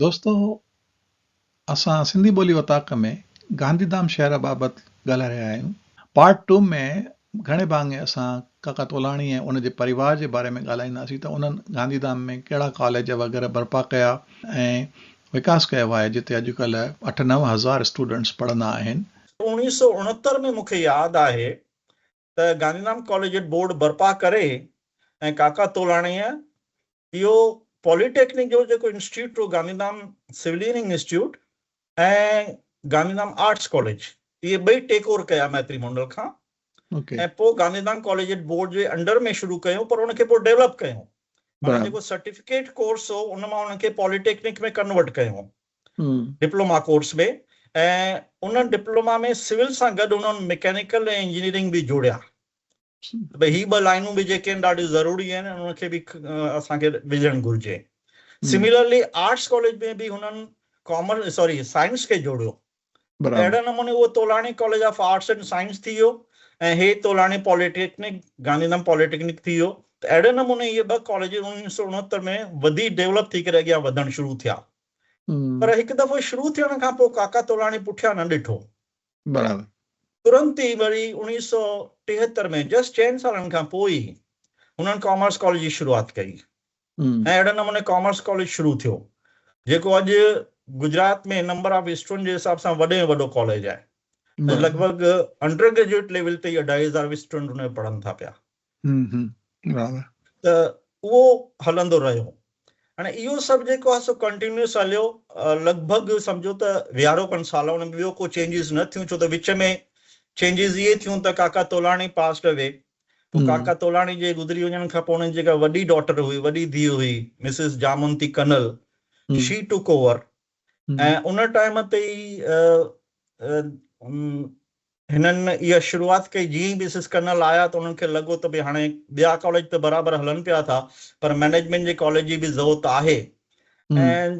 دوستو اسان سنڌي ٻولي اوطاق ۾ گانڌي ڌام شهر بابت ڳالهائي رهيا آهيون. پارٽ ٽو ۾ گهڻي ڀاڱي اسان ڪاڪا تولاني ۽ ان جي پريوار جي باري ۾ ڳالهائينداسين ته انهن گانڌي ڌام ۾ ڪهڙا ڪاليج وغيره برپا ڪيا ۽ وڪاس ڪيو آهي جتي اڄڪلهه اٺ نو هزار اسٽوڊنٽس پڙهندا آهن. اڻيهه سؤ اڻهتر ۾ مونکي ياد آهي ته گانڌيڌام ڪاليجيٽ بورڊ برپا ڪري ۽ ڪاڪا تولاڻيء اهو پولي ٽيڪنڪ جو جيڪو انسٽيٽيوٽ هو گانڌيڌام سوليئرنگ انسٽيٽيوٽ ۽ گانڌيڌام آرٽس ڪاليج اهي ٻئي ٽيڪ اوور ڪيا ميتري مونڊل کان ۽ پوء گانڌيڌام ڪاليجيٽ بورڊ جي انڊر ۾ شروع ڪيو پر ان کي پوء ڊيولپ ڪيو معنيٰ جيڪو سرٽيفڪيٽ ڪورس هو ان مان ان کي پولي ٽيڪنڪ ۾ ڪنورٽ ڪيو ڊپلوما ڪورس ۾ ۽ ان ڊپلوما ۾ سول سان گڏ انهن مڪينيڪل ۽ انجنيئرنگ به جوڙيا ته ڀئي هي ٻه لائنون به جيڪي آهن ڏاڍيون ضروري آهن انهن کي به اسان کي وجهڻ گهرجي سميلرلي آرٽس ڪاليج ۾ به هنن ڪامرس سوري سائنس کي جوڙيو اهڙي نموني اهو Tolani college of arts and science ٿي ويو ۽ هي Tolani polytechnic Gandhidham poly technique ٿي ويو ته اهڙي نموني اهي ٻه ڪاليج اڻويهه سؤ اڻهتر ۾ وڌي ڊيولپ ٿي ڪري اڳيان وڌڻ شروع ٿيا پر هڪ دفعو شروع ٿيڻ کان پوء ڪاڪا تولاڻي پٺيان نه ڏٺو برابر ترنت ئي وري اڻويهه سؤ ٽيهتر ۾ جسٽ چئن سالن کان پوء ئي هنن ڪامرس ڪاليج جي شروعات ڪئي ۽ اهڙي نموني ڪامرس ڪاليج شروع ٿيو، جيڪو اڄ گجرات ۾ نمبر آف اسٽوڊنٽ جي حساب سان وڏي ۾ وڏو ڪاليج آهي. اڄ لڳ ڀڳ انڊر گريجوئيٽ ليول تي ئي اڍائي هزار اسٽوڊنٽ ان ۾ پڙهن ٿا پيا. ته اهو هلندو رهيو. هاڻي اهو سڀ جيڪو آهي سو ڪنٽينيوس هليو. لڳ ڀڳ سمجهو ته ويهارو کن سال ان ۾ ٻيو ڪو چينجز نه ٿيون، ڇو ته وچ ۾ چينجز اهي ٿيون ته ڪاڪا تولاڻي پاسڊ اوي. پوء ڪاڪا تولاڻي جي گذري وڃڻ کان پوء انهن جي جيڪا وڏي ڊاٽر هئي، وڏي ڌيء هئي، مسز جامونتي ڪنل، شي ٽوڪ اوور ۽ ان ٽائيم تي ئي هنن اها شروعات ڪئي، جيئن ئي مسز ڪنل آيا ته انهن کي لڳو ته ڀي هاڻي ٻيا ڪاليج ته برابر هلن پيا ٿا پر مئنيجمينٽ جي ڪاليج جي به ضوت آهي ۽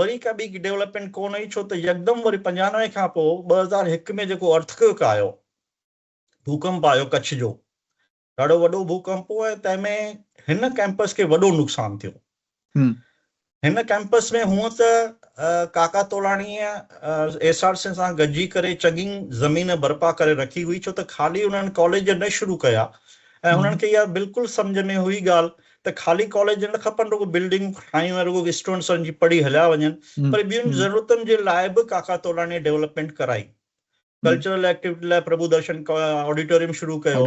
وري ڪا ٻي ڊولپمينٽ ڪونه هئي ڇو ته يڪدم وري پنجانوي کان پوء ٻه هزار هڪ ۾ جيڪو ارٿڪوئڪ آيو ڀوڪمپ آيو ڪڇ جو ڏاڍو وڏو ڀوڪمپ هو ۽ تنهن ۾ هن ڪئمپس کي وڏو نقصان ٿيو هن ڪئمپس ۾ هونء ته ڪاڪا تولاڻيء ايس آر سين سان گڏجي ڪري چڱي زمين برپا ڪري رکي هئي ڇو ته خالي انهن ڪاليج نه شروع ڪيا ۽ انهن کي اها بلڪل سمجهه ۾ هئي ڳالهه ته خالي ڪاليج نه کپن رڳو بلڊنگون ٺاهيون ۽ رڳو اسٽوڊنٽس ان جي پڙهي هليا وڃن پر ٻين ضرورتن جي لاء به ڪاڪا تولاني ڊيولپمينٽ ڪرائي ڪلچرل ايڪٽيوٽي لاء پرڀو درشن آڊيٽوريم شروع ڪيو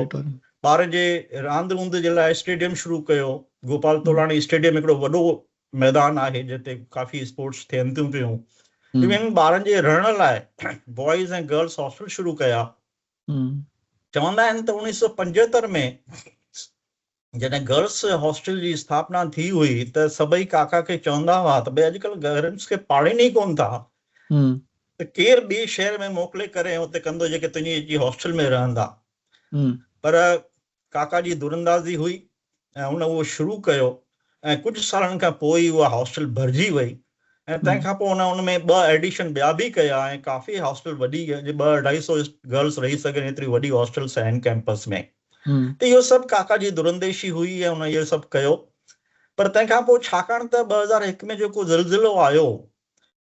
ٻارن جي راند روند جي لاء اسٽيڊيم شروع ڪيو گوپال تولاني اسٽيڊيم هڪڙو وڏو ميدان آهي جنهن تي ڪافي اسپورٽس ٿين ٿيون پيون انهن ٻارن جي رهڻ لاء بوائز ۽ گرلس هاسٽل شروع ڪيا چوندا آهن ته اوڻيهه سؤ پنجهتر ۾ جڏهن گرلس هاسٽل جي اسٿاپنا ٿي هئي ته سڀئي ڪاڪا کي چوندا هئا ته ڀئي اڄڪلهه گرلس کي پاڙهين ئي ڪونه ٿا ته ڪير ٻئي شهر ۾ موڪلي ڪري ۽ اتي ڪندو جيڪي تنهنجي اچي هاسٽل ۾ رهندا پر ڪاڪا جي دراندازي هئي ۽ هن اهو شروع ڪيو ۽ ڪجهه سالن کان پوء ئي اها هاسٽل ڀرجي وئي ۽ تنهن کان پوء هن ان ۾ ٻه ايڊيشن ٻيا به ڪيا ۽ ڪافي هاسٽل وڏي جي ٻه اڍائي سو گرلس رهي سگهن ايتري وڏي هاسٽل سين ڪيمپس ۾ ته اهو سڀ ڪاڪا جي درانديشي هئي ۽ هن اهو سڀ ڪيو پر تنهن کان پوء ڇاڪاڻ ته ٻه هزار هڪ ۾ جيڪو زلزلو آيو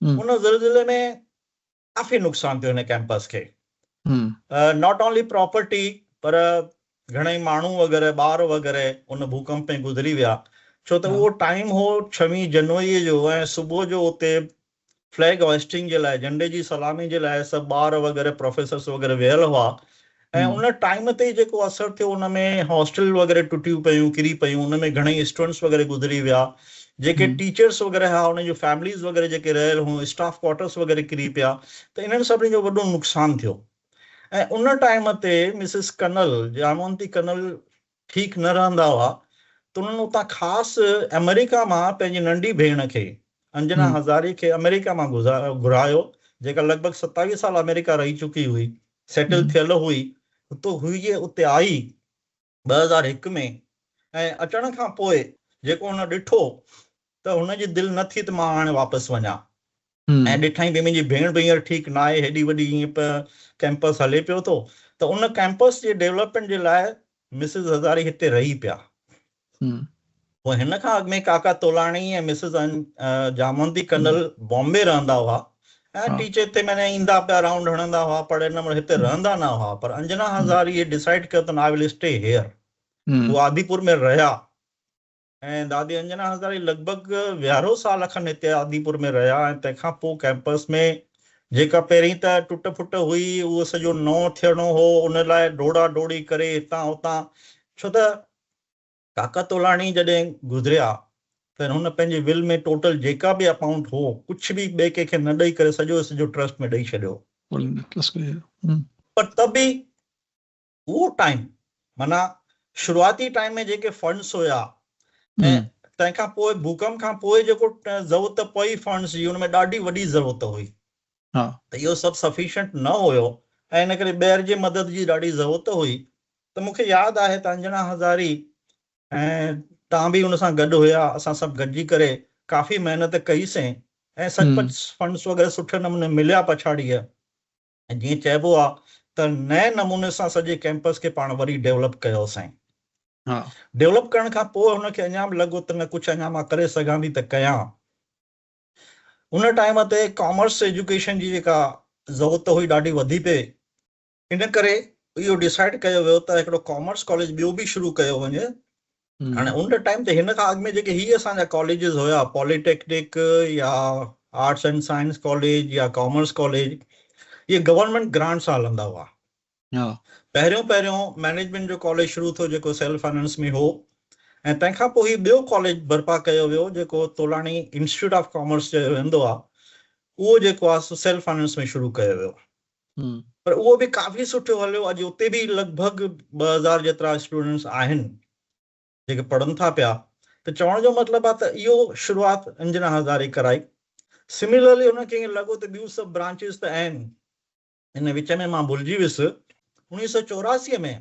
ان زلزلي ۾ ڪافي نقصان ٿيو هن ڪيمپس کي ناٽ اونلي پراپرٽي پر گهڻائي ماڻهو وغيره ٻار وغيره ان ڀوڪمپ ۾ گذري ويا ڇو ته اهو ٽائيم هو ڇويهه جنوري جو ۽ صبح جو اتي فليگ هوائسٽنگ جي لاء جهنڊي جي سلامي جي لاء سڀ ٻار وغيره پروفيسرس وغيره ويل هئا ۽ ان ٽائيم تي جيڪو اثر ٿيو ان ۾ هاسٽل وغيره ٽٽيون پيون ڪري پيون ان ۾ گهڻيئي اسٽوڊنٽس وغيره گذري ويا جيڪي ٽيچرس وغيره ها انهن جون فيمليز وغيره جيڪي رهيل هيون اسٽاف ڪوارٽرس وغيره ڪري پيا ته انهن سڀني جو وڏو نقصان ٿيو ۽ ان ٽائيم تي مسز ڪنل جيامونتي ڪنل ٺيڪ نه رهندا هئا ته انهن اتان خاص آمريڪا مان پنهنجي ننڍي ڀيڻ کي انجنا هزاري کي آمريڪا مان گهرايو جيڪا لڳ ڀڳ ستاويهه سال آمريڪا رهي چڪي هئي سيٽل ٿيل هئي اتو هئي جي اتي آئي ٻه هزار هڪ ۾ ۽ اچڻ کان پوء جيڪو هن ڏٺو ته هن جي دل نه ٿي ته مان هاڻي واپس وڃان ۽ ڏٺائين ڀي منهنجي ڀيڻ به هينئر ٺيڪ نه آهي هيڏي وڏي هيئن پ ڪيمپس هلي پيو ٿو ته ان ڪيمپس جي ڊيولپمينٽ جي لاء مسز هزاري هتي رهي پيا پوء هن کان اڳ ۾ ڪاڪا تولاڻي ۽ مسز جاموندي ڪنل بامبي رهندا هئا ۽ ٽيچر هتي معنيٰ ايندا پيا رائونڊ هڻندا هئا پر ان مهل هتي رهندا نه هئا پر انجنا هزاري ڊسائيڊ ڪيو ته آء ول اسٽي هيئر هو آديپور ۾ رهيا ۽ دادي انجنا هزاري لڳ ڀڳ ويهارو سال کن هتي آديپور ۾ رهيا ۽ تنهن کان پوء ڪئمپس ۾ جيڪا پهرين ته ٽٽ ڦٽ هئي، اهو سڄو نئون ٿيڻو هو، ان لاء ڊوڙا ڊوڙي ڪري هتان هتان ڇو ته ڪاڪا تولاڻي جڏهن گذريا ته هن پنهنجي ول ۾ ٽوٽل جيڪا به اپائونٽ هو، ڪجهه به ٻئي ڪنهن کي نه ڏئي ڪري سڄو جو سڄو ٽرسٽ ۾ ڏئي ڇڏيو. پر ته به اهو ٽائيم معنيٰ شروعاتي ٽائيم ۾ جيڪي فنڊس هيا ۽ تنهن کان پوء ڀوڪم کان پوء جيڪو ضرورت پئي فنڊس جي ان ۾ ڏاڍي وڏي ضرورت هئي ته اهو سڀ سفيشنٽ نه هيو ۽ ان ڪري ٻير جي مدد جي ڏاڍي ضرورت هئي ته مون کي ياد آهي ته انجنا هزاري ۽ تان به ان سان گڏ هيا اسان سڀ گڏجي ڪري ڪافي محنت ڪئي سين ۽ سچ پچ فنڊس وغيره سٺي نموني مليا پڇاڙيء ۽ جيئن چئبو آ ته نئين نموني سان سڄي ڪيمپس کي پاڻ وري ڊيولپ ڪيو سائين. ڊيولپ ڪرڻ کان پوء هن کي اڃا به لڳو ته نه ڪجهه اڃا مان ڪري سگهان ٿي ته ڪيان. ان ٽائيم تي ڪامرس ايجوڪيشن جي جيڪا ضرورت هئي ڏاڍي وڌي پئي ان ڪري اهو ڊيسائيڊ ڪيو ويو ته هڪڙو ڪامرس ڪاليج ٻيو به شروع ڪيو وڃي هاڻي ان ٽائيم تي هن کان اڳ ۾ جيڪي هي اسان جا ڪاليجز هيا پولي ٽيڪنڪ يا آرٽس اينڊ سائنس ڪاليج يا ڪامرس ڪاليج اهي گورنمينٽ گرانٽ سان هلندا هئا پهريون پهريون مينيجمينٽ جو ڪاليج شروع ٿيو جيڪو سيلف فائنانس ۾ هو ۽ تنهن کان پوء هي ٻيو ڪاليج برپا ڪيو ويو جيڪو تولاڻي انسٽيٽيوٽ آف ڪامرس چيو ويندو آهي اهو جيڪو آهي سو سيلف فائنانس ۾ شروع ڪيو ويو هئا. پر اهو به ڪافي سٺو هليو. اڄ اتي به لڳ ڀڳ ٻه هزار جيترا اسٽوڊنٽس آهن جيڪي پڙهن ٿا پيا ته چوڻ جو مطلب آهي ته اهو شروعات انجنا هزاري ڪرائي. سميلرلي هن کي ائين لڳو ته ٻيون سڀ برانچز ته آهن. ان وچ ۾ مان ڀلجي ويس. اوڻيهه سؤ چوراسي ۾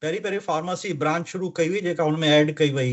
پهرين پهرين فارماسي برانچ شروع ڪئي وئي جيڪا هن ۾ ايڊ ڪئي وئي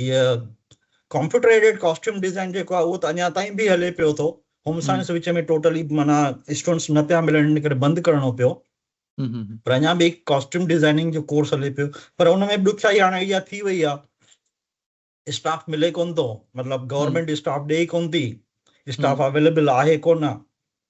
هيء ڪمپيوٽر ايڊيڊ ڪاسٽيوم ڊيزائن جيڪو آهي اهو ته اڃا تائين به هلي پيو ٿو هوم سائنس وچ ۾ ٽوٽلي معنيٰ اسٽوڊنٽس نه پيا ملن ان ڪري بند ڪرڻو پيو پر اڃا به ڪاسٽيوم ڊيزائننگ جو ڪورس هلي پيو پر ان ۾ به ڏکيائي هاڻي اها ٿي وئي آهي اسٽاف ملي ڪونه ٿو مطلب گورنمينٽ اسٽاف ڏئي ڪونه ٿي اسٽاف اويليبل آهي ڪونه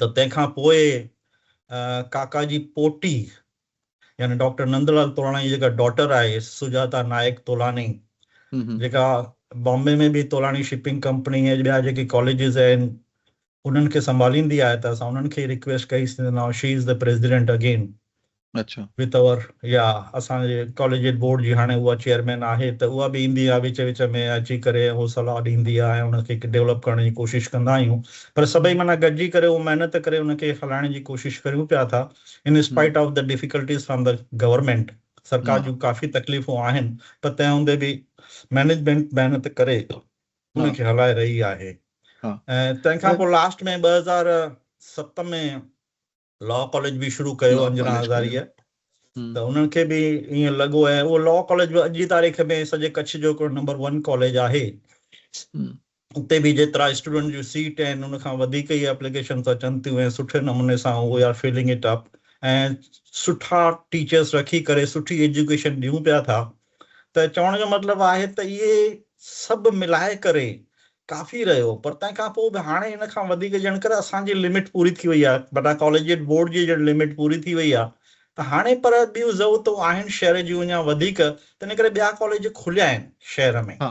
ته تنهن کان پوء ڪاڪا جي پوٽي يعني ڊاڪٽر نندلال تولاڻي جي جيڪا ڊاٽر آهي سجاتا نائڪ تولاڻي جيڪا بامبي ۾ به تولاڻي شپنگ ڪمپني ۽ ٻيا جيڪي ڪاليجز آهن انهن کي سنڀاليندي آهي ته اسان انهن کي ريڪويسٽ ڪئي سي ناء she is the president again اڇا. پتور يا اسان جي ڪاليجيٽ بورڊ جي هاڻي اها چيئرمين آهي ته اها به ايندي آهي وچ وچ ۾ اچي ڪري ۽ اهو صلاح ڏيندي آهي ۽ ان کي ڊولپ ڪرڻ جي ڪوشش ڪندا آهيون پر سڀئي معنيٰ گڏجي ڪري اهو محنت ڪري ان کي هلائڻ جي ڪوشش ڪريون پيا ٿا in spite of the difficulties from the government سرڪار جون ڪافي تڪليفون آهن پر تنهن هوندي به مينيجمينٽ محنت ڪري ان کي هلائي رهي آهي ۽ تنهن کان پوء لاسٽ ۾ ٻه هزار ست ۾ لا ڪاليج به شروع ڪيو انجنا هزاريء ته انهن کي به ائين لڳو ۽ اهو لا ڪاليج به اڄ جي تاريخ ۾ سڄي ڪڇ جو هڪڙو نمبر ون ڪاليج آهي اتي به جيترا اسٽوڊنٽ جون سيٽ آهن ان کان وڌيڪ ئي اپليڪيشنس اچن ٿيون ۽ سٺي نموني سان we are filling it up ۽ سٺا ٽيچرس رکي ڪري سٺي ايجوڪيشن ڏيون پيا ٿا ته چوڻ جو مطلب آهي ته اهي سڀ ملائي ڪري ڪافي رهيو پر تنهن کان پوء به هاڻي ان کان وڌيڪ ڄڻ ڪر اسان جي لمٽ پوري ٿي وئي آهي بٽا ڪاليجيٽ بورڊ جي ڄڻ لمٽ پوري ٿي وئي آهي ته هاڻي پر ٻيون ضرورتون آهن شهر جون اڃا وڌيڪ تنهن ڪري ٻيا ڪاليج کليا آهن شهر ۾. ها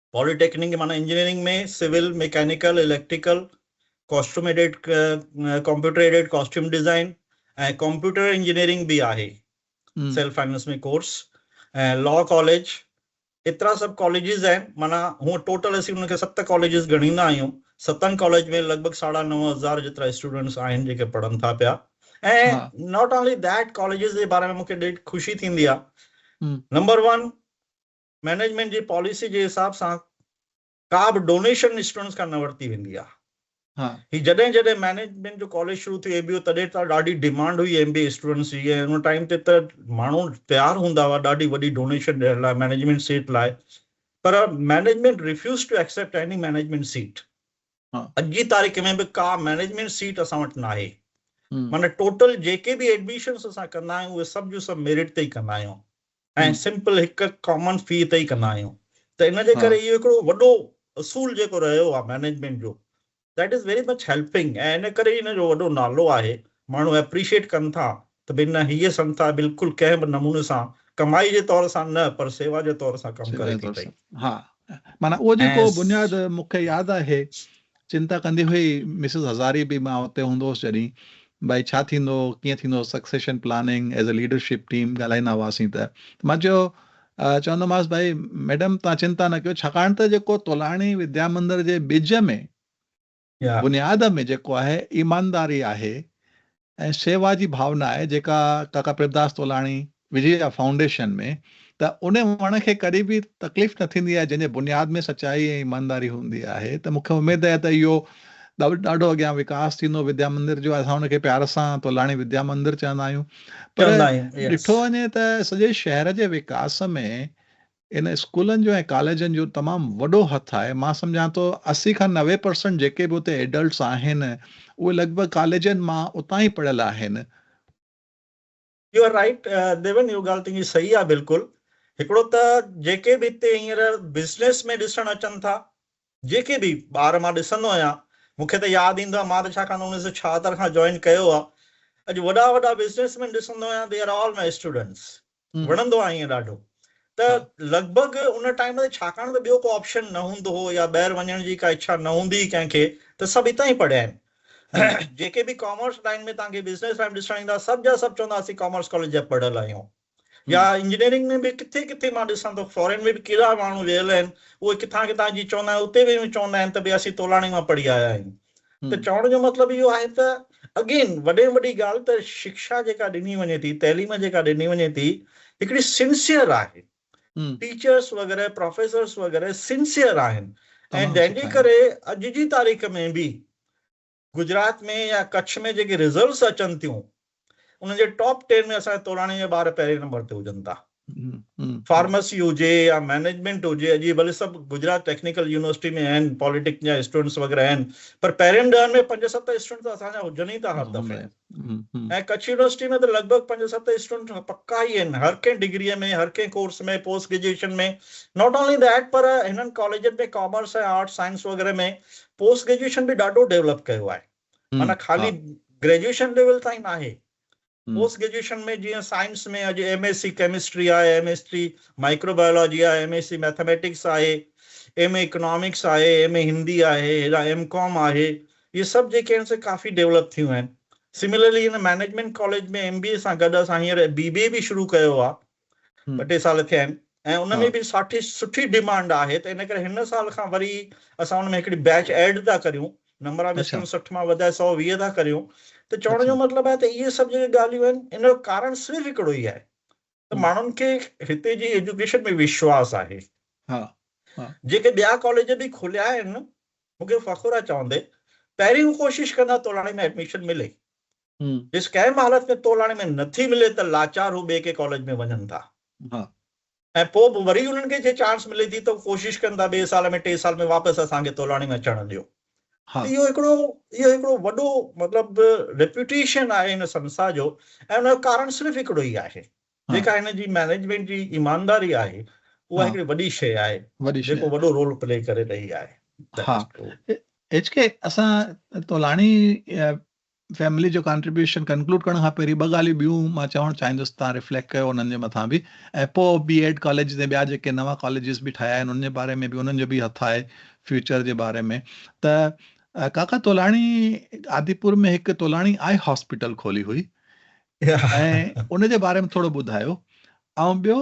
پالي ٽيڪنڪ معنيٰ engineering ۾ civil, mechanical, electrical, costume aided, computer aided costume design ۽ computer engineering به آهي self finance ۾ course ۽ law college ايترا سڀ ڪاليجز آهن معنيٰ هونء ٽوٽل اسين ان کي ست ڪاليجز ڳڻيندا آهيون ستن ڪاليج ۾ لڳ ڀڳ ساڍا نو هزار جيترا اسٽوڊنٽس آهن جيڪي پڙهن ٿا پيا ۽ ناٽ اونلي ڌيٽ ڪاليجز جي باري ۾ مون کي ڏاڍي خوشي ٿيندي آهي نمبر ون مئنيجمينٽ جي پاليسي جي حساب سان ڪا به ڊونيشن اسٽوڊنٽس کان نه ورتي ويندي آهي. هي جڏهن جڏهن مئنيجمينٽ جو ڪاليج شروع ٿيو اي بي او تڏهن ته ڏاڍي ڊيمانڊ هئي ايم بي اي اسٽوڊنٽس جي ۽ ان ٽائيم تي ته ماڻهو تيار هوندا هئا ڏاڍي وڏي ڊونيشن ڏيڻ لاء مئنيجمينٽ سيٽ لاء پر management refuse to accept any management seat اڄ جي تاريخ ۾ به ڪا مئنيجمينٽ سيٽ اسان وٽ ناهي معنيٰ ٽوٽل جيڪي به ايڊميشنس اسان ڪندا آهيون اهي سڀ جو سڀ ميرٽ تي ئي ڪندا آهيون ۽ سمپل هڪ ڪامن في تي ئي ڪندا آهيون ته ان جي ڪري اهو هڪڙو وڏو اصول جيڪو رهيو آهي مينيجمينٽ جو that is very much helping ۽ ان ڪري ان جو وڏو نالو آهي ماڻهو اپريشيٽ ڪن ٿا ته ڀي نه هيء سنسٿا بلڪل ڪنهن به نموني سان ڪمائي جي طور سان نه پر سيوا جي طور سان ڪم ڪري ٿي پئي. ها معنيٰ اهو جيڪو بنياد مونکي ياد آهي چنتا ڪندي هئي مسز هزاري به مان اتي هوندو هوس جڏهين ڀائي ڇا ٿيندو ڪيئن ٿيندو succession planning as a leadership team ڳالهائيندا هئاسين ته مان چيو چوندومانس ڀائي ميڊم توهان چنتا نه ڪيو ڇاڪاڻ ته جيڪو تولاڻي وديا مندر جي ٻج ۾ بنياد ۾ جيڪو آهي ايمانداري آهي ۽ شيوا جي ڀاونا آهي جيڪا ڪاڪا پريمداس تولاڻي وجيا فائونڊيشن ۾ ته ان وڻ کي ڪڏهن به تڪليف نه ٿيندي آهي جنهن جي بنياد ۾ سچائي ۽ ايمانداري هوندي آهي ته مون کي اميد آهي ته اهو ڏاڍو اڳيان وڪاس ٿيندو وديا مندر جو اسان ان کي پيار سان تولاڻي وديا مندر چوندا آهيون پر ڏٺو وڃي ته سڄي شهر جي وڪاس ۾ ان اسڪولن جو ۽ ڪاليجن جو تمام وڏو هٿ آهي مان سمجهان ٿو اسي کان نوي پرسنٽ جيڪي به اتي ايڊلٽس آهن اهي لڳ ڀڳ ڪاليجن مان اتان ئي پڙهيل آهن. يو آر رائيٽ ديون اهو ڳالهه تنهنجي صحيح آهي بلڪل هڪڙو ته جيڪي به هتي هينئر بزنس ۾ ڏسڻ اچن ٿا جيڪي به ٻار مان ڏسندو آهيان مون کي ته ياد ايندو آهي مان ته ڇاڪاڻ ته اڻويهه سؤ ڇاهتر کان جوائن ڪيو آهي اڄ وڏا وڏا بزنس مين ڏسندو آهيان they are all my students وڻندو آهي ائين ڏاڍو ته لڳ ڀڳ ان ٽائيم تي ڇاڪاڻ ته ٻيو ڪو آپشن نه هوندو هو يا ٻاهر وڃڻ جي ڪا اڇا نه هوندي ڪنهن کي ته سڀ هتان ئي پڙهيا آهن جيڪي به ڪامرس لائين ۾ توهان کي بزنس لائين ڏسڻ ايندا سڀ جا سڀ چوندا اسين ڪامرس ڪاليج جا پڙهيل آهيون يا انجنيئرنگ ۾ به ڪٿي ڪٿي مان ڏسان ٿو فارين ۾ به ڪيڏا ماڻهو ويل آهن اهي ڪٿان ڪٿان جي چوندا آهن اتي به چوندا آهن ته ڀي اسين تولاڻي مان پڙهي آيا آهيون ته چوڻ جو مطلب اهو آهي ته اگين وڏي ۾ وڏي ڳالهه ته شڪشا جيڪا ڏني وڃي ٿي تعليم جيڪا ڏني وڃي ٿي هڪڙي سنسيئر آهي ٽيچرس وغيره پروفيسرس وغيره سنسيئر آهن ۽ جنهن جي ڪري اڄ جي تاريخ ۾ به گجرات ۾ يا ڪڇ ۾ جيڪي رزلٽس اچن ٿيون انهن جي ٽاپ ٽين ۾ اسان جي توراڻي جا ٻار پهرين نمبر تي هجن ٿا. فارمسي هجي يا مئنيجمينٽ هجي، اڄ اهي ڀلي سڀ گجرات ٽيڪنيڪل يونيورسٽي ۾ آهن، پاليٽيڪ جا اسٽوڊنٽس وغيره آهن، پر پهرين ڏهن ۾ پنج ست اسٽوڊنٽ ته اسان جا هجن ئي ٿا هر دفعي. ۽ ڪڇ يونيورسٽي ۾ ته لڳ ڀڳ پنج ست اسٽوڊنٽ پڪا ئي آهن، هر ڪنهن ڊگريء ۾، هر ڪنهن course ۾، post graduation ۾. Not only that پر هنن ڪاليجن ۾ ڪامرس ۽ آرٽس سائنس وغيره ۾ پوسٽ گريجوئيشن به ڏاڍو ڊيولپ ڪيو آهي. معنيٰ خالي گريجوئيشن ليول تائين ناهي، پوسٽ گريجوئيشن ۾ جيئن سائنس ۾ اڄ ايم ايس سي ڪيمسٽري آهي، M S C microbiology آهي، ايم ايس سي ميٿميٽڪس آهي، ايم اي اڪنامڪس آهي، ايم اي هندي آهي، هيڏانهن ايم ڪام آهي، اهي سڀ جيڪي آهن سي ڪافي ڊيولپ ٿيون آهن. سملرلي هن management college ۾ M B A سان گڏ اسان هينئر بي بي اي به شروع ڪيو آهي، ٻه ٽي سال ٿيا آهن ۽ ان ۾ به ساٺي سٺي ڊيمانڊ آهي ته ان ڪري هن سال کان وري اسان ان ۾ هڪڙي بيچ ايڊ ٿا ڪريون نمبران به سٺ سٺ مان وڌائي سؤ ويهه ٿا ڪريون ته چوڻ جو مطلب آهي ته اهي سڀ جيڪي ڳالهيون آهن ان جو ڪارڻ صرف هڪڙو ئي آهي ته ماڻهن کي هتي جي ايجوڪيشن ۾ وشواس آهي جيڪي ٻيا ڪاليج به کوليا آهن مون کي فخر آهي چوندي پهرين هو ڪوشش ڪندا تولاڻي ۾ ايڊميشن ملي جيس ڪنهن به حالت ۾ تولاڻي ۾ نه ٿي ملي ته لاچار هو ٻئي ڪنهن ڪاليج ۾ وڃن ٿا ۽ پوء به وري انهن کي جي چانس ملي ٿي ته هو ڪوشش ڪن ٿا ٻئي سال ۾ ٽي سال ۾ واپس اسان کي تولاڻي ۾ اچڻ ڏيو ته اهو هڪڙو اهو هڪڙو وڏو مطلب ريپيوٽيشن آهي هن سنسٿا جو ۽ ان جو ڪارڻ صرف هڪڙو ئي آهي جيڪا هن جي مئنيجمينٽ جي ايمانداري آهي اها هڪڙي وڏي شيء آهي جيڪو وڏو رول پلي ڪري رهي آهي ايڇ ڪي اسان تولاڻي فيملي جو ڪانٽريبيوشن ڪنڪلوڊ ڪرڻ کان پهرين ٻه ڳالهيون ٻيون مان چوڻ چاهيندس تان ريفليڪٽ ڪيو انهن جي مٿان به ۽ پوء بي ايڊ ڪاليجز ۽ ٻيا جيڪي نوان ڪاليجز به ٺاهيا آهن انهن جي باري ۾ به انهن جو به هٿ آهي فيوچر جي باري ۾ ته ڪاڪا تولاڻي آديپور ۾ هڪ تولاڻي آئي هاسپيٽل کولي هئي ۽ ان جي باري ۾ ٿورو ٻڌايو ۽ ٻيو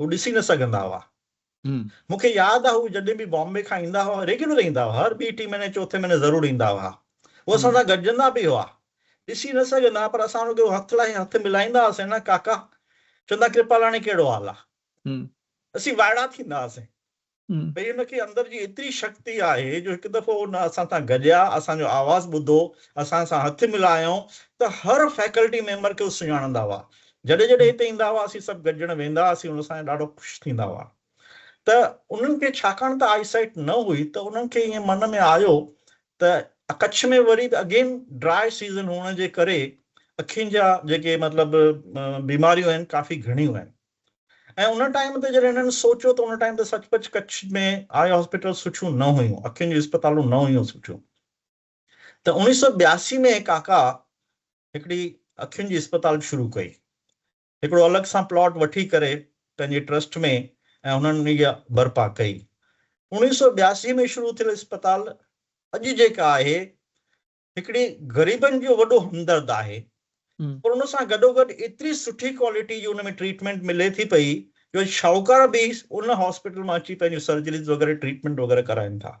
هو ڏسي نه سگهندا هئا. مون کي ياد آهي هو جڏهن به بامبي کان ايندا هئا، ريگيولر ايندا هئا، هر ٻي ٽي مهيني چوٿين مهيني ضرور ايندا هئا. هو اسان سان گڏجندا به هئا. ڏسي نه سگهندا هئا پر اسان رڳو هٿ لاهي هٿ ملائيندا هئاسين نه ڪاڪا! چوندا ڪرپالاڻي ڪهڙو حال آ؟ اسين وائڙا ٿيندا هئاسين. ڀئي ان کي اندر جي ايتري شڪتي آهي جو هڪ دفعو ان اسان سان گڏيا، اسان جو آواز ٻڌو، اسان سان هٿ ملايائون ته هر فيڪلٽي ميمبر کي هو سڃاڻندا هئا. جڏهن جڏهن هتي ايندا هئا اسين سڀ گڏجڻ ويندا هئاسين ان سان ڏاڍو خوش ٿيندا هئا ته انهن کي ڇاڪاڻ ته آئي سائيٽ نه هئي ته انهن کي ائين من ۾ آيو ته ڪڇ ۾ وري به اگين ڊراء سيزن هئڻ جي ڪري اکين جا جيڪي مطلب بيماريون آهن ڪافي گهڻيون آهن. ۽ ان ٽائيم تي جڏهن هنن سوچيو ته ان ٽائيم تي سچ پچ ڪڇ ۾ آء هاسپيٽل سٺيون نه هيون اکين جون اسپتالون نه هيون سٺيون ته اوڻيهه سؤ ٻياسي ۾ هي ڪاڪا هڪڙي اکين جي اسپتال شروع ڪئي هڪڙو الڳ سان پلاٽ وٺي ڪري پنهنجي ٽرسٽ ۾ ۽ هنن هي برپا ڪئي اوڻيهه سؤ ٻياسي ۾ شروع ٿيل اسپتال اڄ جيڪا آهي هڪڙي غريبن جو وڏو همدرد آهي پر ان سان گڏوگڏ ايتري سٺي ڪوالٽي جي ان ۾ ٽريٽمينٽ ملي ٿي پئي جو شاهوڪار به ان هاسپيٽل مان اچي پنهنجون سرجريز وغيره ٽريٽمينٽ وغيره ڪرائين ٿا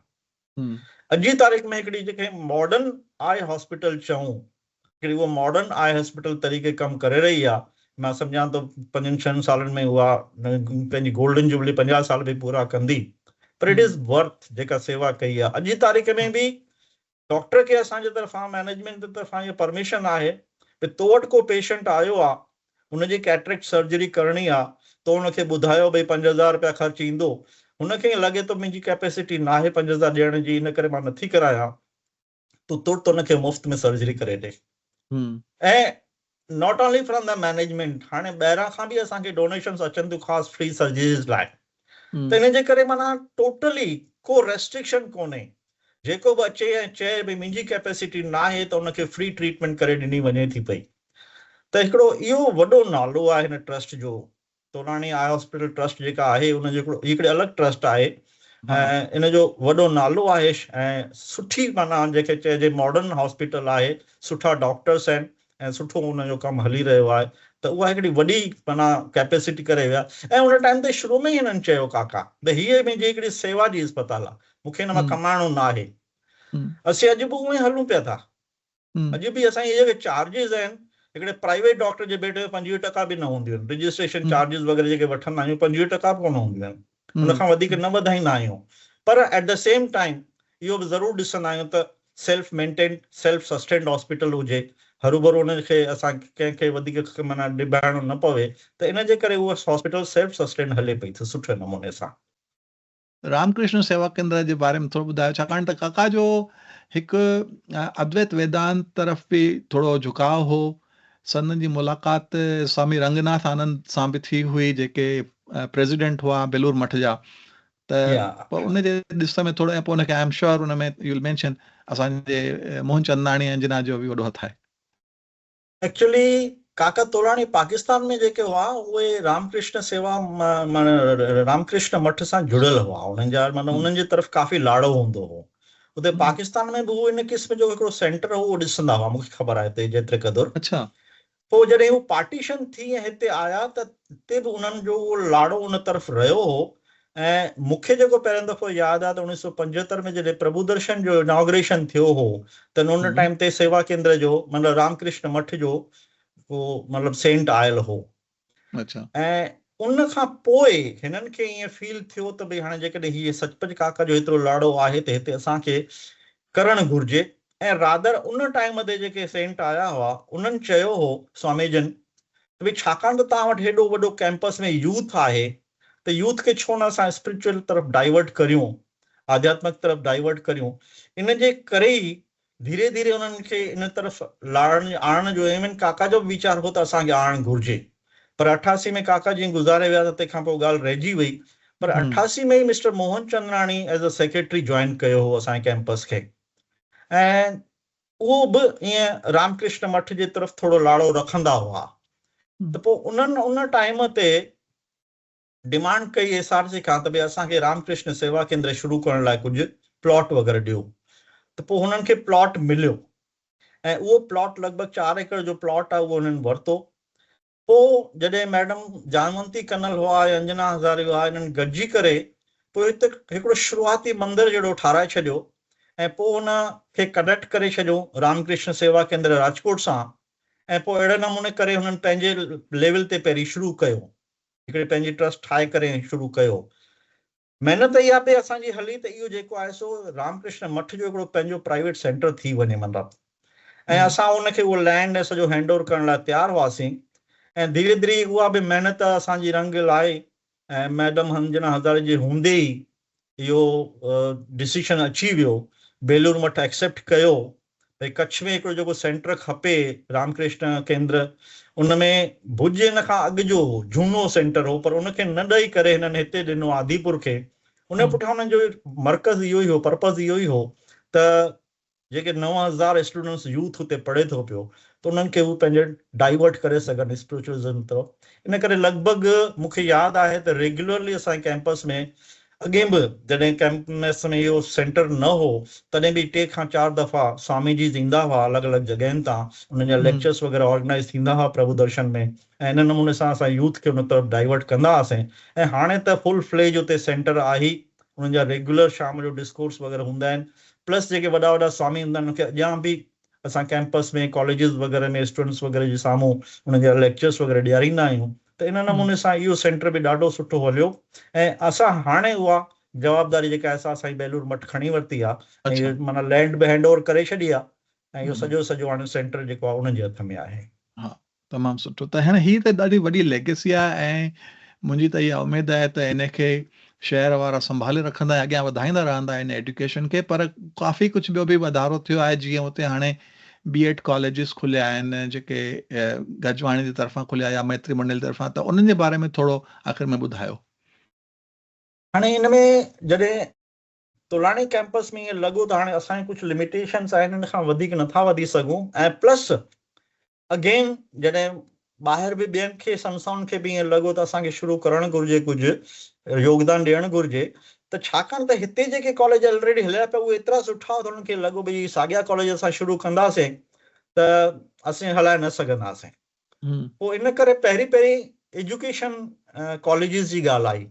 اڄ جي تاريخ ۾ هڪڙي جنهن کي ماڊرن آء هاسپيٽل چئون هڪڙي اها ماڊرن آء هاسپيٽل طريقي ڪم ڪري رهي آهي مان سمجهان ٿو پنجن ڇهن سالن ۾ اها پنهنجي گولڊن جوبلي پنجاهه سال به پورا ڪندي پر اٽ از ورٿ جيڪا سيوا ڪئي آهي اڄ جي تاريخ ۾ به ڊاڪٽر کي اسان جي طرفان مئنيجمينٽ جي طرفان اها پرميشن آهي ڀي تو وٽ ڪو پيشنٽ آيو آ هن جي ڪيٽريڪٽ سرجري ڪرڻي آ تو هن کي ٻڌايو ڀئي پنج هزار رپيا خرچ ايندو هن کي ائين لڳي ٿو منهنجي ڪيپيسٽي ناهي پنج هزار ڏيڻ جي ان ڪري مان نٿي ڪرايان تو ترت هن کي مفت ۾ سرجري ڪري ڏي ۽ not only from the management هاڻي ٻاهران کان به اسان کي ڊونيشنس اچن ٿيون خاص فري سرجريز لاء ته ان جي ڪري معنيٰ ٽوٽلي ڪو ريسٽرڪشن ڪونهي جيڪو به اچي ۽ چئي ڀئي منهنجي ڪيپيسٽي ناهي ته ان کي فري ٽريٽمينٽ ڪري ڏني وڃي ٿي پئي ته هڪڙو اهو وڏو نالو آهي هن ٽرسٽ جو طولاڻي آء هاسپيٽل ٽرسٽ جيڪا آهي ان جو هڪڙي الڳ ٽرسٽ آهي ۽ ان جو وڏو نالو آهي ۽ سٺي معنيٰ جيڪي چئجي ماڊرن هاسپيٽل آهي سٺا ڊاڪٽرس آهن ۽ سٺو ان جو ڪم هلي رهيو آهي ته اها هڪڙي وڏي معنيٰ ڪيپيسٽي ڪري ويا ۽ ان ٽائيم تي شروع ۾ ئي هنن چيو ڪاڪا ته هيء منهنجي هڪڙي سيوا جي اسپتال آهي مون کي ان مان ڪمائڻو ناهي اسين اڄ به اونئي هلون پيا ٿا اڄ به اسان جي جيڪي چارجز آهن هڪڙي پرائيويٽ ڊاڪٽر جي بيڊ ۾ پنجويهه ٽڪا به نه هونديون آهن رجسٽريشن چارجز وغيره جيڪي وٺندا آهيون پنجويهه ٽڪا به ڪونه هونديون آهن ان کان وڌيڪ نه وڌائيندا آهيون پر ايٽ دي سيم ٽائيم اهو به ضرور ڏسندا آهيون ته self maintained self sustained hospital هجي هروڀرو ان کي اسان ڪنهن کي وڌيڪ معنيٰ نباهڻو نه پوي ته ان جي ڪري اها هاسپيٽل سيلف سسٽينڊ هلي پئي ٿي سٺي نموني سان رام ڪرشن سيوا ڪيندر جي باري ۾ ٿورو ٻڌايو ڇاڪاڻ ته ڪاڪا جو هڪ ادويت ويدانت طرف به ٿورو جهڪاء هو. سندن جي ملاقات سوامي رنگ ناٿ آنند سان به ٿي هئي جيڪي پريزيڊنٽ هئا بيلور مٺ جا ته پوء ان جي ڏس ۾ ٿورو ۽ پوء ان کي I am sure in ۾ you will mention اسان جي موهن چنداڻي انجنا جو به وڏو هٿ آهي. ايڪچولي ڪاڪا تولاڻي پاڪستان ۾ جيڪي هئا اهي رام ڪرشن سيوا معنيٰ رام ڪرشن مٺ سان جڙيل هئا انهن جا معنيٰ انهن جي طرف ڪافي لاڙو هوندو هو اتي پاڪستان ۾ به هو ان قسم جو هڪڙو سينٽر هو اهو ڏسندا هئا مون کي خبر آهي اتي جيتري قدر اڇا پوء جڏهن هو پارٽيشن ٿي ۽ هتي آيا ته هتي به انهن جو اهو لاڙو ان طرف رهيو هو ۽ مون کي جيڪو پهريون دفعو ياد آهي ته اوڻيهه سؤ پنجهتر ۾ جڏهن پرڀودرشن جو اناگريشن ٿيو هو ته ان ٽائيم تي سيوا ڪيندر جو مطلب رام ڪرشن مٺ جو ڪو مطلب سينٽ آيل هو ۽ ان کان پوء هنن کي ائين فيل ٿيو ته ڀئي هاڻي جيڪڏهن هي سچ پچ ڪاڪا جو هيترو لاڙو آهي ته هتي اسان کي ڪرڻ گهرجي ۽ رادر ان ٽائيم تي جيڪي سينٽ آيا هئا انهن چيو هو سوامي جن ته ڀئي ڇاڪاڻ ته توهان وٽ هيڏو وڏو ڪيمپس ۾ يوٿ آهي ته يوٿ کي ڇو نه اسان اسپريچوئل طرف ڊائيورٽ ڪريون، آڌياتمڪ طرف ڊائيورٽ ڪريون، ان جي ڪري ئي ڌيري ڌيري انهن کي ان طرف لاڙڻ آڻڻ جو ايون ڪاڪا جو به ويچار هو ته اسان کي آڻڻ گهرجي پر اٺاسي ۾ ڪاڪا جيئن گذاري ويا ته تنهن کان پوء ڳالهه رهجي وئي پر اٺاسي ۾ ئي Mr Mohan Chandrani as a secretary join ڪيو هو اسان جي ڪيمپس کي ۽ اهو به ائين رام ڪرشن مٺ جي طرف ٿورو لاڙو رکندا هئا ته پوء انهن ان ٽائيم تي ڊمانڊ ڪئي ايس آر سي کان ته ڀي اسان کي رام ڪرشن سيوا ڪيندر شروع ڪرڻ لاء ڪجهه پلاٽ وغيره ڏيو ته پوء هنن کي پلاٽ مليو ۽ اهو پلاٽ لڳ ڀڳ چار ايڪڙ جو پلاٽ آهي اهو هنن ورتو پوء جڏهن ميڊم جانونتي ڪنل هئا ۽ انجنا هزاري هئا، انهن گڏجي ڪري پوء هتي هڪڙو شروعاتي مندر جهڙو ٺاهرائي ڇڏيو ۽ پوء ان کي ڪنيڪٽ ڪري ڇڏيون رام ڪرشن سيوا ڪيندر راجڪوٽ سان ۽ پوء اهڙي نموني ڪري هنن پنهنجي ليول تي پهرين شروع ڪيو. هڪڙي پنهنجي ٽرسٽ ٺاهي ڪري شروع ڪيو. محنت اها به اسان جي هلي ته اهو جيڪو آهي سو رام ڪرشن مٺ جو هڪڙو پنهنجو پرائيويٽ سينٽر ٿي وڃي من رب ۽ اسان ان کي اهو لينڊ ۽ سڄو هينڊ اوور ڪرڻ لاء تيار هئاسين ۽ ڌيري ڌيري اها به محنت اسان جي رنگ لائي ۽ ميڊم انجنا هزاري جي هوندي ئي اهو ڊسيشن اچي ويو بيلور مٺ ايڪسيپٽ ڪيو ڀئي ڪڇ ۾ هڪڙو جيڪو سينٽر کپي رام ڪرشن ڪيندر ان ۾ ڀڄ ان کان اڳ جو هو جهونو سينٽر هو پر ان کي نه ڏئي ڪري هنن هتي ڏنو آديپور کي ان جي پٺيان انهن جو مرڪز اهو ئي هو پرپز اهو ئي هو ته جيڪي نو هزار اسٽوڊنٽس يوٿ اتي پڙهي ٿو پيو ته انهن کي هو پنهنجي ڊائيورٽ ڪري سگهن اسپريچوئلزم طرف ان ڪري لڳ ڀڳ مون کي ياد آهي ته ريگيولرلي اسان جي ڪيمپس ۾ اڳي به جڏهن ڪئمپنس ۾ اهو سينٽر نه هو تڏهن به ٽي کان چار دفعا سوامي جيز ايندا هئا الڳ الڳ جڳهين تان انهن جا ليڪچرس وغيره آرگنائيز ٿيندا هئا پرڀو درشن ۾ ۽ ان نموني سان اسان يوٿ کي ان طرف ڊائيورٽ ڪندا هئاسين ۽ هاڻي ته فل فليج اتي سينٽر آهي انهن جا ريگيولر شام جو ڊسڪورس وغيره هوندا آهن پلس جيڪي وڏا وڏا سوامي هوندا آهن انهن کي اڄان به اسان ڪيمپس ۾ ڪاليجز وغيره ۾ اسٽوڊنٽس وغيره جي سامهون انهن جا ليڪچرس وغيره ڏياريندا آهيون ته ان نموني سان اهو سينٽر به ڏاڍو سٺو هليو ۽ اسان هاڻي اها جوابداري جيڪا ايس آر سائين بهلول مٺ کڻي ورتي آهي ۽ اهو معنيٰ لينڊ به هينڊ اوور ڪري ڇڏي آهي ۽ اهو سڄو سڄو هاڻي سينٽر جيڪو آهي انهن جي هٿ ۾ آهي. تمام سٺو ته هيڻ هي ته ڏاڍي وڏي ليگيسي آهي ۽ منهنجي ته اها اميد آهي ته ان کي شهر وارا سنڀالي رکندا ۽ اڳيان وڌائيندا رهندا ان ايڊيوڪيشن کي پر ڪافي ڪجهه ٻيو به وڌارو ٿيو آهي جيئن اتي هاڻي بي ايڊ ڪاليجز کليا آهن جيڪي گجواڻي جي طرفان کليا يا ميتري منڊل جي طرفان ته انهن جي باري ۾ ٿورو آخر ۾ ٻڌايو. هاڻي ان ۾ جڏهن تولاڻي ڪئمپس ۾ ائين لڳو ته هاڻي اسان جي ڪجهه لميٽيشنس آهن ان کان وڌيڪ نٿا وڌي سگهون ۽ پلس اگين جڏهن ٻاهر به ٻين کي سنسائن کي به ائين لڳو ته اسان کي شروع ڪرڻ گهرجي ڪجهه يوگدان ڏيڻ گهرجي ته ڇاڪاڻ ته هتي جيڪي ڪاليج الريڊي هليا پيا اهي ايترا سٺا هئا ته انهن کي لڳو ڀئي ساڳيا ڪاليج اسان شروع ڪنداسين ته اسين هلائي نه سگهنداسين پوء ان ڪري پهرين پهرين ايجوڪيشن ڪاليجز جي ڳالهه آئي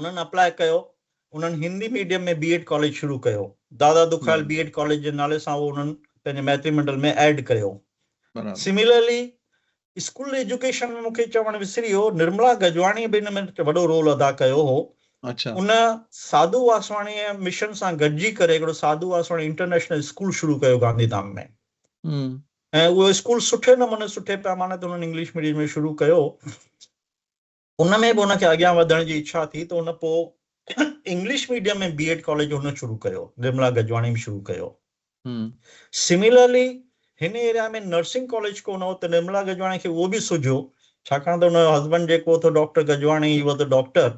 انهن اپلاء ڪيو. انهن Hindi medium ۾ B Ed college شروع ڪيو. Dada Dukhayal B Ed college جي نالي سان اهو انهن پنهنجي ميتري منڊل ۾ ايڊ ڪيو. سميلرلي اسڪول ايجوڪيشن ۾ مون کي چوڻ وسري ويو نرملا گجواڻيء به ان ۾ وڏو رول ادا ڪيو هو. ان ساڌو واسواڻيء مشن سان گڏجي ڪري هڪڙو ساڌو واسواڻي انٽرنيشنل اسڪول شروع ڪيو گانڌيڌام ۾ ۽ اهو اسڪول سٺي نموني سٺي پيماني تي انهن انگلش ميڊيم ۾ شروع ڪيو. ان ۾ به هن کي اڳيان وڌڻ جي اڇا ٿي ته هن پوء English medium ۾ B Ed college هن شروع ڪيو، وملا گجواڻي به شروع ڪيو. سميلرلي هن ايريا ۾ نرسنگ ڪاليج ڪو نه هو ته نرملا گجواڻي کي اهو به سجهيو ڇاڪاڻ ته هن جو هسبنڊ جيڪو هو ته doctor Gajwani he was a doctor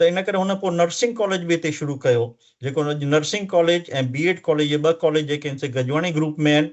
ته ان ڪري هن پوء نرسنگ ڪاليج به هتي شروع ڪيو جيڪو اڄ nursing college ۽ B Ed college اهي ٻه ڪاليج جيڪي هن سي گجواڻي گروپ ۾ آهن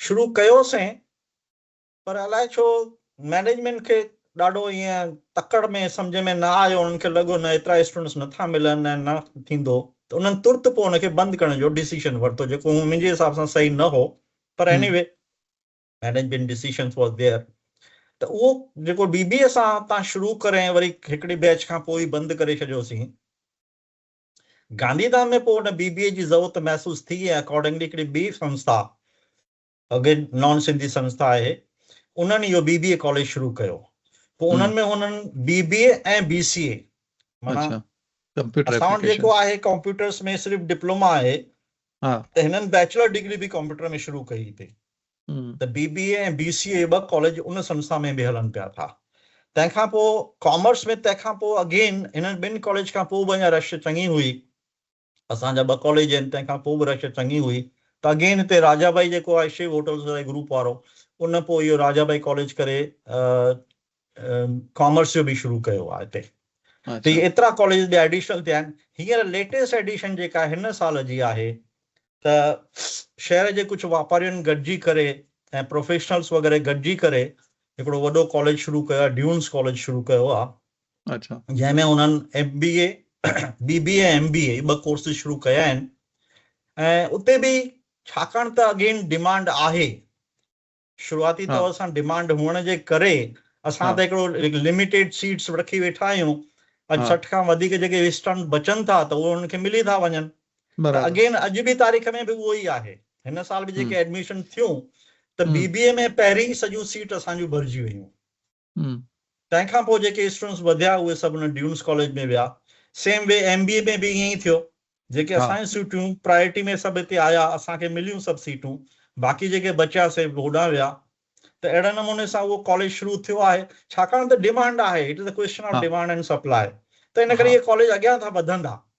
شروع ڪيوسين پر الائي ڇو مئنيجمينٽ کي ڏاڍو ائين تڪڙ ۾ سمجهه ۾ نه آيو انهن کي لڳو نه ايترا اسٽوڊنٽس نٿا ملن ۽ نه ٿيندو ته انهن ترت پوء ان کي بند ڪرڻ جو ڊيسيشن ورتو جيڪو منهنجي حساب سان صحيح نه هو پر anyway management decision was there ته اهو جيڪو ڊي بي اي سان تان شروع ڪري وري هڪڙي بيچ کان پوء بند ڪري ڇڏيوسين گانڌي ڌام ۾ پوء ان بي بي اي جي ضرورت محسوس ٿي ۽ اڪارڊنگلي هڪڙي ٻي سنسٿا اگين نان سنڌي سنسٿا آهي انهن اهو بي بي اي ڪاليج شروع ڪيو پوء انهن ۾ هنن بي بي اي ۽ بي سي اي معنيٰ اسان وٽ جيڪو آهي ڪمپيوٽرس ۾ صرف ڊپلوما آهي ته هنن بيچلر ڊگري به ڪمپيوٽر ۾ شروع ڪئي هتي ته بي بي اي ۽ بي سي اي ٻه ڪاليج ان سنسٿا ۾ به هلن پيا ٿا تنهن کان پوء ڪامرس ۾ تنهن کان پوء اگين هنن ٻن ڪاليج کان پوء به اڃا رش چڱي هئي اسان جا ٻه ڪاليج آهن تنهن کان پوء به رش چڱي هئي ته اگين هتي راجا ڀائي جيڪو آهي شو هوٽلز واري گروپ وارو ان پوء اهو راجا ڀائي ڪاليج ڪري ڪامرس جو به شروع ڪيو آهي هتي ته هي ايترا ڪاليجز ٻيا ايڊيشنل ٿيا آهن هينئر ليٽيسٽ ايڊيشن جيڪا هن سال جي آهي ته شهر جي ڪجهه واپارين گڏجي ڪري ۽ پروفيشنلس وغيره گڏجي ڪري هڪڙو وڏو ڪاليج شروع ڪيو آهي ڊيونس ڪاليج شروع ڪيو آهي اڇا جنهن ۾ انهن M B A B B A M B A ٻه ڪورسز شروع ڪيا آهن ۽ اتي به ڇاڪاڻ ته اگين ڊيمانڊ آهي شروعاتي طور سان ڊمانڊ هئڻ جي ڪري اسان ته هڪڙو لميٽيڊ سيٽس رکي ويٺا آهيون اڄ سٺ کان وڌيڪ جيڪي ويسٽرن بچن ٿا ته اهي انهن کي ملي ٿا وڃن ته اگين اڄ به تاريخ ۾ به اهو ئي آهي هن سال به جيڪي ايڊميشن ٿيون ته بي بي اي ۾ پهرين ئي سڄيون سيٽ اسان جون ڀرجي ويون تنهن کان پوء جيڪي اسٽوڊنٽس وڌيا اهي سڀ ان ڊيونس ڪاليج ۾ ويا same way M B A ۾ به ائين ئي ٿيو جيڪي اسان جون سيٽون پرائرٽي ۾ سڀ هتي آيا اسان کي مليون سڀ سيٽون باقي جيڪي بچيا سي هوڏانهن ويا ته اهڙي نموني سان اهو ڪاليج شروع ٿيو آهي ڇاڪاڻ ته ڊيمانڊ آهي it is a question of demand and supply ته ان ڪري اهي ڪاليج اڳيان ٿا وڌندا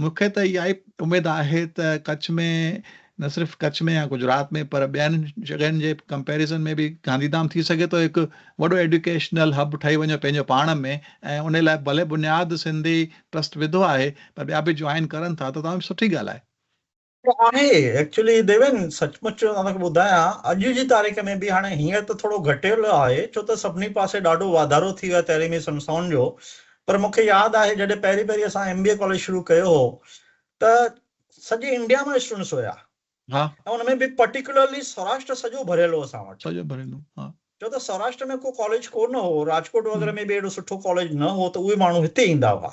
مون کي ته اها ئي اميد آهي ته ڪڇ ۾ نه صرف ڪڇ ۾ يا گجرات ۾ پر ٻين جڳهين جي ڪمپيرزن ۾ به گانڌيڌام ٿي سگهي ٿو هڪ وڏو ايڊيوڪيشنل هب ٺهي وڃي پنهنجو پاڻ ۾ ۽ ان لاء ڀلي بنياد سنڌي ٽرسٽ وڌو آهي پر ٻيا به جوائن ڪرن ٿا ته تمام سٺي ڳالهه آهي. اهو آهي ايڪچولي ديوين سچ مچ مان توکي ٻڌايان اڄ جي تاريخ ۾ به هاڻي هينئر ته ٿورو گهٽيل آهي ڇو ته سڀني پاسي ڏاڍو واڌارو ٿي ويو آهي تعليمي سنسٿائن جو پر مون کي ياد آهي جڏهن پهرين پهرين اسان ايم بي اي ڪاليج شروع ڪيو هو ته سڄي انڊيا مان اسٽوڊنٽس هيا ها ۽ ان ۾ به پرٽيڪولرلي سوراشٽر سڄو ڀريل هو اسان وٽ سڄو ڀريل هو ها ڇو ته سوراشٽر ۾ ڪو ڪاليج ڪو نه هو راجڪوٽ وغيره ۾ به اهڙو سٺو ڪاليج نه هو ته اهي ماڻهو هتي ايندا هئا